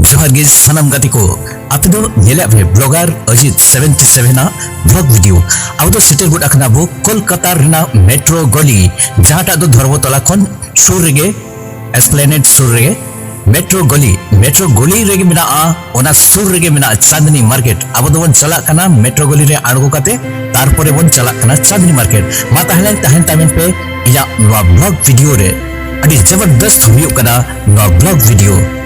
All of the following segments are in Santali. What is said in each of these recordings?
ᱡᱚᱦᱟᱨ ᱜᱮ ᱥᱟᱱᱟᱢ ᱜᱟᱛᱮ ᱠᱚ ᱟᱯᱮ ᱫᱚ ᱧᱮᱞᱮᱫ ᱯᱮ ᱵᱞᱚᱜᱟᱨ ᱚᱡᱤᱛ 77 ᱟᱜ ᱵᱞᱚᱜ ᱵᱷᱤᱰᱤᱭᱳ ᱟᱵᱚ ᱫᱚ ᱥᱮᱴᱮᱨ ᱜᱚᱫ ᱟᱠᱟᱱᱟ ᱵᱚ ᱠᱳᱞᱠᱟᱛᱟ ᱨᱮᱱᱟᱜ ᱢᱮᱴᱨᱳ ᱜᱚᱞᱤ ᱡᱟᱦᱟᱸᱴᱟᱜ ᱫᱚ ᱫᱷᱚᱨᱢᱚᱛᱚᱞᱟ ᱠᱷᱚᱱ ᱥᱩᱨ ᱨᱮᱜᱮ ᱮᱥᱯᱞᱮᱱᱮᱰ ᱥᱩᱨ ᱨᱮᱜᱮ ᱢᱮᱴᱨᱳ ᱜᱚᱞᱤ ᱢᱮᱴᱨᱳ ᱜᱚᱞᱤ ᱨᱮᱜᱮ ᱢᱮᱱᱟᱜᱼᱟ ᱚᱱᱟ ᱥᱩᱨ ᱨᱮᱜᱮ ᱢᱮᱱᱟᱜᱼᱟ ᱪᱟᱸᱫᱽᱱᱤ ᱢᱟᱨᱠᱮᱴ ᱟᱵᱚ ᱫᱚᱵᱚᱱ ᱪᱟᱞᱟᱜ ᱠᱟᱱᱟ ᱢᱮᱴᱨᱳ ᱜᱚᱞᱤ ᱨᱮ ᱟᱬᱜᱚ ᱠᱟᱛᱮ ᱛᱟᱨᱯᱚᱨᱮ ᱵᱚᱱ ᱪᱟᱞᱟᱜ ᱠᱟᱱᱟ ᱪᱟᱸᱫᱽᱱᱤ ᱢᱟᱨᱠᱮᱴ ᱢᱟ ᱛᱟᱦᱞᱮ ᱛᱟᱦᱮᱱ ᱛᱟᱵᱮᱱ ᱯᱮ ᱤᱧᱟᱹᱜ ᱱᱚᱣᱟ ᱵᱞᱚᱜ ᱵᱷᱤᱰᱤᱭᱳ ᱨᱮ ᱟᱹᱰᱤ ᱡᱚᱵᱚᱨᱫᱚᱥᱛ ᱦᱩᱭᱩᱜ ᱠᱟᱱᱟ ᱱᱚᱣᱟ ᱵᱞᱚᱜ ᱵᱷᱤᱰᱤᱭᱳ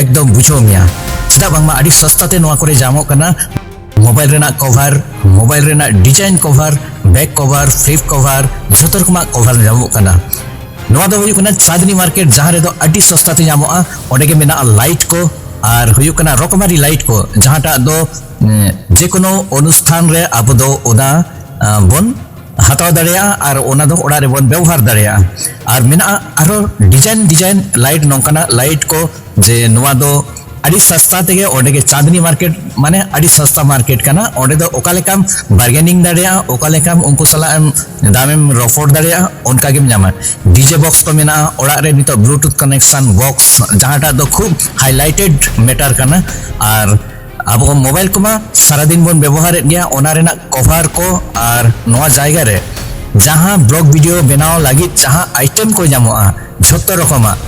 ᱮᱠᱫᱚᱢ ᱵᱩᱡᱷᱟᱹᱣ ᱢᱮᱭᱟ ᱪᱮᱫᱟᱜ ᱵᱟᱝᱢᱟ ᱟᱹᱰᱤ ᱥᱚᱥᱛᱟ ᱛᱮ ᱱᱚᱣᱟ ᱠᱚᱨᱮ ᱧᱟᱢᱚᱜ ᱠᱟᱱᱟ ᱢᱳᱵᱟᱭᱤᱞ ᱨᱮᱱᱟᱜ ᱠᱚᱵᱷᱟᱨ ᱢᱳᱵᱟᱭᱤᱞ ᱨᱮᱱᱟᱜ ᱰᱤᱡᱟᱭᱤᱱ ᱠᱚᱵᱷᱟᱨ ᱵᱮᱠ ᱠᱚᱵᱷᱟᱨ ᱯᱷᱞᱤᱯ ᱠᱚᱵᱷᱟᱨ ᱡᱷᱚᱛᱚ ᱨᱚᱠᱚᱢᱟᱜ ᱠᱚᱵᱷᱟᱨ ᱧᱟᱢᱚᱜ ᱠᱟᱱᱟ ᱱᱚᱣᱟ ᱫᱚ ᱦᱩᱭᱩᱜ ᱠᱟᱱᱟ ᱪᱟᱸᱫᱽᱱᱤ ᱢᱟᱨᱠᱮᱴ ᱡᱟᱦᱟᱸ ᱨᱮᱫᱚ ᱟᱹᱰᱤ ᱥᱚᱥᱛᱟ ᱛᱮ ᱧᱟᱢᱚᱜᱼᱟ ᱚᱸᱰᱮ ᱜᱮ ᱢᱮᱱᱟᱜᱼᱟ ᱞᱟᱭᱤᱴ ᱠᱚ ᱟᱨ ᱦᱩᱭᱩᱜ ᱠᱟᱱᱟ ᱨᱚᱠᱚᱢᱟᱨᱤ ᱞᱟᱭᱤᱴ ᱠᱚ ᱡᱟᱦᱟᱸᱴᱟᱜ ᱫᱚ ᱡᱮ ᱠᱳᱱᱳ ᱚᱱᱩᱥᱴᱷᱟᱱ ᱨᱮ ᱟᱵᱚ ᱫᱚ ᱚᱱᱟ ᱵᱚᱱ ᱦᱟᱛᱟᱣ ᱫᱟᱲᱮᱭᱟᱜᱼᱟ ᱟᱨ ᱚᱱᱟ ᱫᱚ ᱚᱲᱟᱜ ᱨᱮᱵᱚᱱ ᱵᱮᱣᱦᱟᱨ ᱫᱟᱲᱮᱭᱟᱜᱼᱟ ᱟᱨ ᱢᱮᱱᱟᱜᱼᱟ ᱟᱨᱚ ᱰᱤᱡᱟᱭᱤᱱ ᱰᱤᱡᱟᱭᱤᱱ ᱞᱟᱭᱤᱴ ᱱᱚᱝᱠᱟᱱᱟᱜ ᱞᱟᱭᱤᱴ ᱠᱚ ᱡᱮ ᱱᱚᱣᱟ ᱫᱚ ᱟᱹᱰᱤ ᱥᱟᱥᱛᱟ ᱛᱮᱜᱮ ᱚᱸᱰᱮ ᱜᱮ ᱪᱟᱸᱫᱽᱱᱤ ᱢᱟᱨᱠᱮᱴ ᱢᱟᱱᱮ ᱟᱹᱰᱤ ᱥᱟᱥᱛᱟ ᱢᱟᱨᱠᱮᱴ ᱠᱟᱱᱟ ᱚᱸᱰᱮ ᱫᱚ ᱚᱠᱟ ᱞᱮᱠᱟᱢ ᱵᱟᱨᱜᱮᱱᱤᱝ ᱫᱟᱲᱮᱭᱟᱜᱼᱟ ᱚᱠᱟ ᱞᱮᱠᱟᱢ ᱩᱱᱠᱩ ᱥᱟᱞᱟᱜ ᱮᱢ ᱫᱟᱢᱮᱢ ᱨᱚᱯᱚᱲ ᱫᱟᱲᱮᱭᱟᱜᱼᱟ ᱚᱱᱠᱟ ᱜᱮᱢ ᱧᱟᱢᱟ ᱰᱤᱡᱮ ᱵᱚᱠᱥ ᱠᱚ ᱢᱮᱱᱟᱜᱼᱟ ᱚᱲᱟᱜ ᱨᱮ ᱱᱤᱛᱚᱜ ᱵᱞᱩᱴᱩᱛᱷ ᱠᱟᱱᱮᱠᱥᱚᱱ ᱵᱚᱠᱥ ᱡᱟᱦᱟᱸᱴᱟᱜ ᱫᱚ ᱠᱷᱩᱵ ᱦᱟᱭᱞᱟᱭᱴᱮᱰ ᱢᱮᱴᱟᱨ ᱠᱟᱱᱟ ᱟᱨ ᱟᱵᱚ ᱢᱳᱵᱟᱭᱤᱞ ᱠᱚᱢᱟ ᱥᱟᱨᱟᱫᱤᱱ ᱵᱚᱱ ᱵᱮᱵᱚᱦᱟᱨᱮᱫ ᱜᱮᱭᱟ ᱚᱱᱟ ᱨᱮᱱᱟᱜ ᱠᱚᱵᱷᱟᱨ ᱠᱚ ᱟᱨ ᱱᱚᱣᱟ ᱡᱟᱭᱜᱟ ᱨᱮ ᱡᱟᱦᱟᱸ ᱵᱞᱚᱜ ᱵᱷᱤᱰᱤᱭᱳ ᱵᱮᱱᱟᱣ ᱞᱟᱹᱜᱤᱫ ᱡᱟᱦᱟᱸ ᱟᱭᱴᱮᱢ ᱠᱚ ᱧᱟᱢᱚᱜᱼᱟ ᱡᱷᱚᱛᱚ ᱨᱚᱠᱚᱢᱟᱜ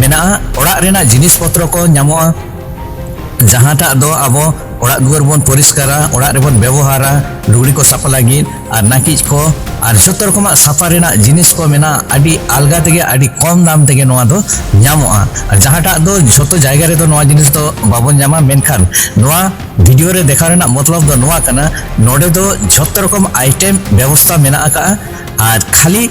ᱢᱮᱱᱟᱜᱼᱟ ᱚᱲᱟᱜ ᱨᱮᱱᱟᱜ ᱡᱤᱱᱤᱥ ᱯᱚᱛᱨᱚ ᱠᱚ ᱧᱟᱢᱚᱜᱼᱟ ᱡᱟᱦᱟᱸᱴᱟᱜ ᱫᱚ ᱟᱵᱚ ᱚᱲᱟᱜ ᱫᱩᱣᱟᱹᱨ ᱵᱚᱱ ᱯᱚᱨᱤᱥᱠᱟᱨᱟ ᱚᱲᱟᱜ ᱨᱮᱵᱚᱱ ᱵᱮᱵᱚᱦᱟᱨᱟ ᱞᱩᱜᱽᱲᱤ ᱠᱚ ᱥᱟᱯᱷᱟ ᱞᱟᱹᱜᱤᱫ ᱟᱨ ᱱᱟᱹᱠᱤᱡ ᱠᱚ ᱟᱨ ᱡᱚᱛᱚ ᱨᱚᱠᱚᱢᱟᱜ ᱥᱟᱯᱷᱟ ᱨᱮᱱᱟᱜ ᱡᱤᱱᱤᱥ ᱠᱚ ᱢᱮᱱᱟᱜᱼᱟ ᱟᱹᱰᱤ ᱟᱞᱜᱟ ᱛᱮᱜᱮ ᱟᱹᱰᱤ ᱠᱚᱢ ᱫᱟᱢ ᱛᱮᱜᱮ ᱱᱚᱣᱟ ᱫᱚ ᱧᱟᱢᱚᱜᱼᱟ ᱟᱨ ᱡᱟᱦᱟᱸᱴᱟᱜ ᱫᱚ ᱡᱚᱛᱚ ᱡᱟᱭᱜᱟ ᱨᱮᱫᱚ ᱱᱚᱣᱟ ᱡᱤᱱᱤᱥ ᱫᱚ ᱵᱟᱵᱚᱱ ᱧᱟᱢᱟ ᱢᱮᱱᱠᱷᱟᱱ ᱱᱚᱣᱟ ᱵᱷᱤᱰᱤᱭᱳ ᱨᱮ ᱫᱮᱠᱷᱟᱣ ᱨᱮᱱᱟᱜ ᱢᱚᱛᱞᱚᱵ ᱫᱚ ᱱᱚᱣᱟ ᱠᱟᱱᱟ ᱱᱚᱰᱮ ᱫᱚ ᱡᱚᱛᱚ ᱨᱚᱠᱚᱢ ᱟᱭᱴᱮᱢ ᱵᱮᱵᱚᱥᱛᱟ ᱢᱮᱱᱟᱜ ᱟᱠᱟᱜᱼᱟ ᱟᱨ ᱠᱷᱟᱹᱞᱤ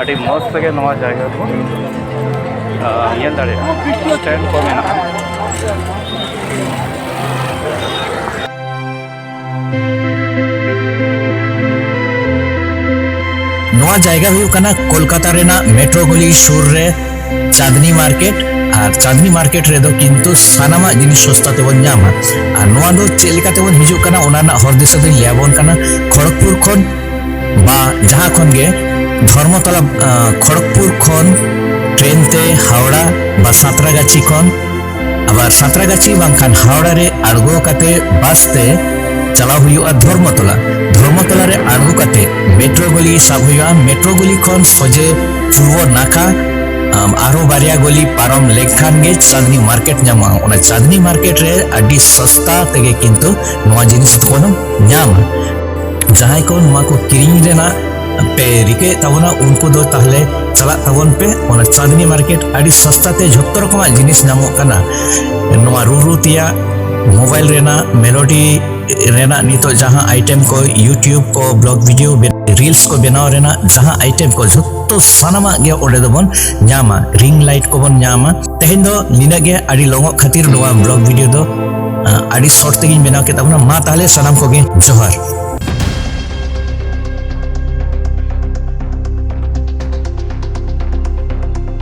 ᱟᱹᱰᱤ ᱢᱚᱡᱽ ᱛᱮᱜᱮ ᱱᱚᱣᱟ ᱡᱟᱭᱜᱟ ᱠᱚ ᱧᱮᱞ ᱫᱟᱲᱮᱭᱟᱜᱼᱟ ᱥᱴᱮᱱᱰ ᱠᱚ ᱢᱮᱱᱟᱜᱼᱟ ᱱᱚᱣᱟ ᱡᱟᱭᱜᱟ ᱦᱩᱭᱩᱜ ᱠᱟᱱᱟ ᱠᱳᱞᱠᱟᱛᱟ ᱨᱮᱱᱟᱜ ᱢᱮᱴᱨᱳ ᱜᱚᱞᱤ ᱥᱩᱨ ᱨᱮ ᱪᱟᱸᱫᱽᱱᱤ ᱢᱟᱨᱠᱮᱴ ᱟᱨ ᱪᱟᱸᱫᱽᱱᱤ ᱢᱟᱨᱠᱮᱴ ᱨᱮᱫᱚ ᱠᱤᱱᱛᱩ ᱥᱟᱱᱟᱢᱟᱜ ᱡᱤᱱᱤᱥ ᱥᱚᱥᱛᱟ ᱛᱮᱵᱚᱱ ᱧᱟᱢᱟ ᱟᱨ ᱱᱚᱣᱟ ᱫᱚ ᱪᱮᱫ ᱞᱮᱠᱟ ᱛᱮᱵᱚᱱ ᱦᱤᱡᱩᱜ ᱠᱟᱱᱟ ᱚᱱᱟ ᱨᱮᱱᱟᱜ ᱦᱚᱨ ᱫᱤᱥᱟᱹ ᱫᱚᱧ ᱞᱟᱹᱭᱟᱵᱚᱱ ᱠᱟᱱᱟ ᱠᱷᱚᱲᱚᱜᱽᱯᱩᱨ ᱠᱷᱚᱱ ᱵᱟ ᱡᱟᱦᱟᱸ ᱠᱷᱚᱱ ᱜᱮ ᱫᱷᱚᱨᱢᱚᱛᱚᱞᱟ ᱠᱷᱚᱲᱚᱜᱽᱯᱩᱨ ᱠᱷᱚᱱ ᱴᱨᱮᱱ ᱛᱮ ᱦᱟᱣᱲᱟ ᱵᱟ ᱥᱟᱸᱛᱨᱟᱜᱟᱪᱷᱤ ᱠᱷᱚᱱ ᱟᱵᱟᱨ ᱥᱟᱸᱛᱨᱟᱜᱟᱪᱷᱤ ᱵᱟᱝᱠᱷᱟᱱ ᱦᱟᱣᱲᱟ ᱨᱮ ᱟᱬᱜᱚ ᱠᱟᱛᱮ ᱵᱟᱥ ᱛᱮ ᱪᱟᱞᱟᱣ ᱦᱩᱭᱩᱜᱼᱟ ᱫᱷᱚᱨᱢᱚᱛᱚᱞᱟ ᱫᱷᱚᱨᱢᱚᱛᱚᱞᱟ ᱨᱮ ᱟᱬᱜᱚ ᱠᱟᱛᱮ ᱢᱮᱴᱨᱳ ᱜᱚᱞᱤ ᱥᱟᱵ ᱦᱩᱭᱩᱜᱼᱟ ᱢᱮᱴᱨᱳ ᱜᱚᱞᱤ ᱠᱷᱚᱱ ᱥᱚᱡᱮ ᱯᱩᱨᱵᱚ ᱱᱟᱠᱷᱟ ᱟᱨᱚ ᱵᱟᱨᱭᱟ ᱜᱚᱞᱤ ᱯᱟᱨᱚᱢ ᱞᱮᱠᱷᱟᱱ ᱜᱮ ᱪᱟᱸᱫᱽᱱᱤ ᱢᱟᱨᱠᱮᱴ ᱧᱟᱢᱚᱜᱼᱟ ᱚᱱᱟ ᱪᱟᱸᱫᱽᱱᱤ ᱢᱟᱨᱠᱮᱴ ᱨᱮ ᱟᱹᱰᱤ ᱥᱚᱥᱛᱟ ᱛᱮᱜᱮ ᱠᱤᱱᱛᱩ ᱱᱚᱣᱟ ᱡᱤᱱᱤᱥ ᱫᱚᱵᱚᱱ ᱧᱟᱢᱟ ᱡᱟᱦᱟᱸᱭ ᱠᱚ ᱱᱚᱣᱟ ᱠᱚ ᱠᱤᱨᱤᱧ ᱨᱮᱱᱟᱜ ᱯᱮ ᱨᱤᱠᱟᱹᱭᱮᱫ ᱛᱟᱵᱚᱱᱟ ᱩᱱᱠᱩ ᱫᱚ ᱛᱟᱦᱞᱮ ᱪᱟᱞᱟᱜ ᱛᱟᱵᱚᱱ ᱯᱮ ᱚᱱᱟ ᱪᱟᱸᱫᱽᱱᱤ ᱢᱟᱨᱠᱮᱴ ᱟᱹᱰᱤ ᱥᱚᱥᱛᱟ ᱛᱮ ᱡᱷᱚᱛᱚ ᱨᱚᱠᱚᱢᱟᱜ ᱡᱤᱱᱤᱥ ᱧᱟᱢᱚᱜ ᱠᱟᱱᱟ ᱱᱚᱣᱟ ᱨᱩᱨᱩ ᱛᱮᱭᱟᱜ ᱢᱳᱵᱟᱭᱤᱞ ᱨᱮᱱᱟᱜ ᱢᱮᱞᱳᱰᱤ ᱨᱮᱱᱟᱜ ᱱᱤᱛᱚᱜ ᱡᱟᱦᱟᱸ ᱟᱭᱴᱮᱢ ᱠᱚ ᱤᱭᱩᱴᱤᱭᱩᱵᱽ ᱠᱚ ᱵᱞᱚᱜ ᱵᱷᱤᱰᱤᱭᱳ ᱨᱤᱞᱥ ᱠᱚ ᱵᱮᱱᱟᱣ ᱨᱮᱱᱟᱜ ᱡᱟᱦᱟᱸ ᱟᱭᱴᱮᱢ ᱠᱚ ᱡᱷᱚᱛᱚ ᱥᱟᱱᱟᱢᱟᱜ ᱜᱮ ᱚᱸᱰᱮ ᱫᱚᱵᱚᱱ ᱧᱟᱢᱟ ᱨᱤᱝ ᱞᱟᱭᱤᱴ ᱠᱚᱵᱚᱱ ᱧᱟᱢᱟ ᱛᱮᱦᱮᱧ ᱫᱚ ᱱᱤᱱᱟᱹᱜ ᱜᱮ ᱟᱹᱰᱤ ᱞᱚᱝᱚᱜ ᱠᱷᱟᱹᱛᱤᱨ ᱱᱚᱣᱟ ᱵᱞᱚᱜ ᱵᱷᱤᱰᱤᱭᱳ ᱫᱚ ᱟᱹᱰᱤ ᱥᱚᱨᱴ ᱛᱮᱜᱤᱧ ᱵᱮᱱᱟᱣ ᱠᱮᱫ ᱛᱟᱵᱚᱱᱟ ᱢᱟ ᱛᱟᱦᱞᱮ ᱥᱟᱱᱟᱢ ᱠᱚᱜᱮ ᱡᱚᱦᱟᱨ